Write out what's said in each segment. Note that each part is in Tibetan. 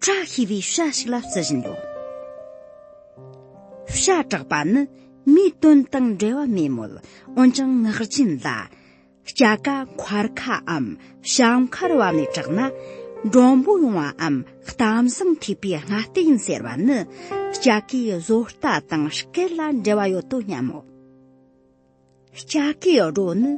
བཀྲག་ཤིས་པའི་ཤ་ཞིག་ལ་བརྩི་བཞིན་ཡོད། ཤ་བཀྲག་པ་ནི་མིའི་དོན་དང་འབྲེལ་བ་མེད་མོད་འོན་ཀྱང་ངག་རྒྱུན་ལ། སྐྱ་ཀ་འཁར་ཁའམ་ཞག་འཁར་བ་ནས་བཀྲག་ན་འགྲོན་པོ་ཡོང་བའམ་གཏམ་བཟང་ཐེག་པའི་སྔ་ལྟས་ཡིན་ཟེར་བ་ནི་སྐྱ་ཀའི་བཟོ་ལྟ་དང་སྐད་ལ་འབྲེལ་བ་ཡོད་དོ་སྙམ་མོ། ལྕགས་ཀྱི་རོ་ནི་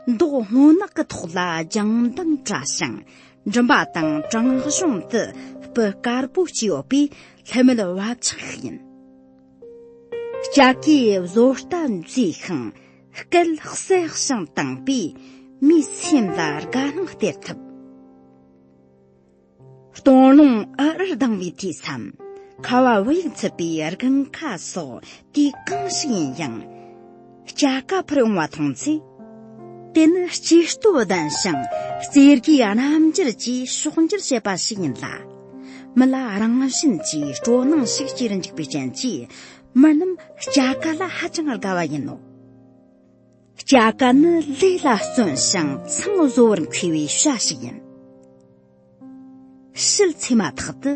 མདོག་སྔོ་ནག་གི་ཐོག་ལ་ལྗང་མདངས་བཀྲ་ཞིང་མགྲིན་པ་དང་བྲང་གཞུང་དུ་སྤུ་དཀར་པོ་གཅིག་ཡོད་པའི་ལྷད་མེད་བབ་ཆགས་ཤིག་ཡིན། ལྕགས་ཀྱི་བཟོ་ལྟ་མཛེས་ཤིང་སྐད་གསལ་ཞིང་དྭངས་པས་མིའི་སེམས་ལ་དགའ་སྣང་སྟེར་ཐུབ། སྟོང་ལུང་ཨ་ཨར་ལྡང་བའི་དུས་སམ། ཁ་བ་བུ་ཡུག་འཚུབ་པའི་རྐང་ཁ་སོགས་དུས་གང་ཞིག་ཡིན་ཡང། སྐྱ་ཀ་འཕུར་ཡོང་བ་མཐོང་ཚེ། དེ་ནི་སྐྱེ་སྟོབས་ལྡན་ཞིང་རྩེ་དགའི་རྣམ་འགྱུར་གྱིས་ཕྱོགས་འགྱུར་བྱེད་པ་ཞིག་ཡིན་ལ། མི་ལ་རང་བཞིན་གྱིས་སྤྲོ་སྣང་ཞིག་སྐྱེ་རུ་འཇུག་པའི་རྐྱེན་གྱིས་མི་རྣམས་སྐྱ་ཀ་ལ་ཧ་ཅང་དགའ་བ་ཡིན་ནོ། སྐྱ་ཀ་ནི་ལུས་ལ་བརྩོན་ཞིང་མཚང་བཟོ་བར་མཁས་པའི་བྱ་ཞིག་ཡིན། ཕྱིལ་ཚེ་མ་ཐག་ཏུ།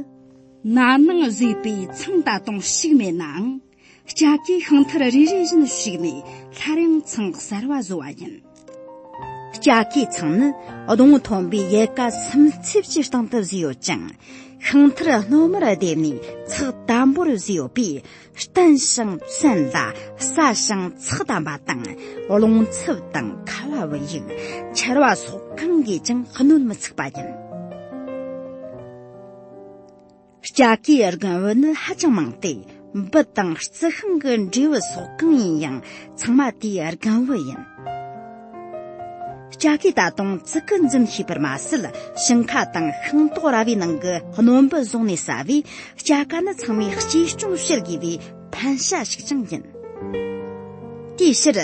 ན་ནིང་བཟོས་པའི་མཚང་ད་དུང་བཤིག་མེད་ནའང་སྐྱ་ཀའི་ཤིང་མཐིལ་རེ་རེ་བཞིན་བཤིག་ནས་སླར་ཡང་མཚང་གསར་བ་བཟོ་བ་ཡིན། སྐྱ་ཀའི་མཚང་ནི་གདོང་མཐོན་པོས་ཡལ་ག་སིམ་འཚིབ་ཀྱི་སྟེང་དུ་བཟོས་ཡོད་ཅིང་ཤིང་མཐིལ་སྣོལ་མར་བསྡེབས་ནས་ཚགས་དམ་པོར་བཟོས་ཡོད་པས། བརྟན་ཞིང་བཙན་ལ་སྲ་ཞིང་ཚགས་དམ་པ་དང་རླུང་འཚུབ་དང་ཁ་བ་བུ་ཡུག་ཆར་བ་སོགས་གང་གིས་ཀྱང་གནོད་མི་འཚིག་པ་ཡིན། སྐྱ་ཀའི་རྒུན་འོད་ནི་ཧ་ཅང་མང་སྟེ་འབུ་དང་རྩི་ཤིང་གི་འབྲས་བུ་སོགས་གང་ཡིན་ཡང་ཚང་མ་དེའི་རྒུན་འོད་ཡིན། ལྕགས་ཀྱི་ད་དུང་ཙི་ཀི་འཛིན་ཤེས་པར་མ་ཟད་ཞིང་ཁ་དང་ཤིང་ཏོག་ར་བའི་ནང་གི་སྣོན་འབུད་བཟུང་ནས་ཟ་བས་ལྕགས་ཀ་ནི་ཚང་མས་གཅེས་སྐྱོང་བྱེད་དགོས་པའི་ཕན་བྱ་ཞིག་ཀྱང་ཡིན། དེའི་ཕྱིར།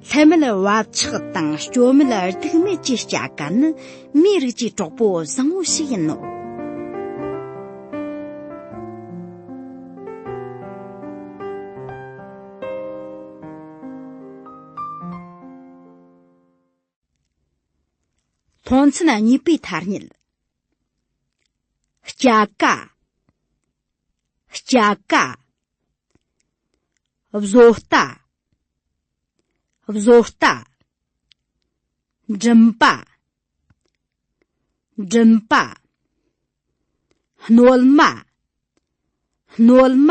ལྷད་མེད་བབ་ཆགས་དང་སྐྱོ་མེད་སྡུག་མེད་ཀྱི་ལྕགས་ཀ་ནི་མིའི་རིགས་ཀྱི་གྲོགས་པོ་བཟང་བོ་ཞིག་ཡིན་ནོ། མཐོང་ཚུལ་གཉིས་པའི་ཐ་སྙད་སྐྱ་ཀ་སྐྱ་ཀ་བཟོ་ལྟ་བཟོ་ལྟ་འགྲིམ་པ་འགྲིམ་པ་སྣོལ་མ་སྣོལ་མ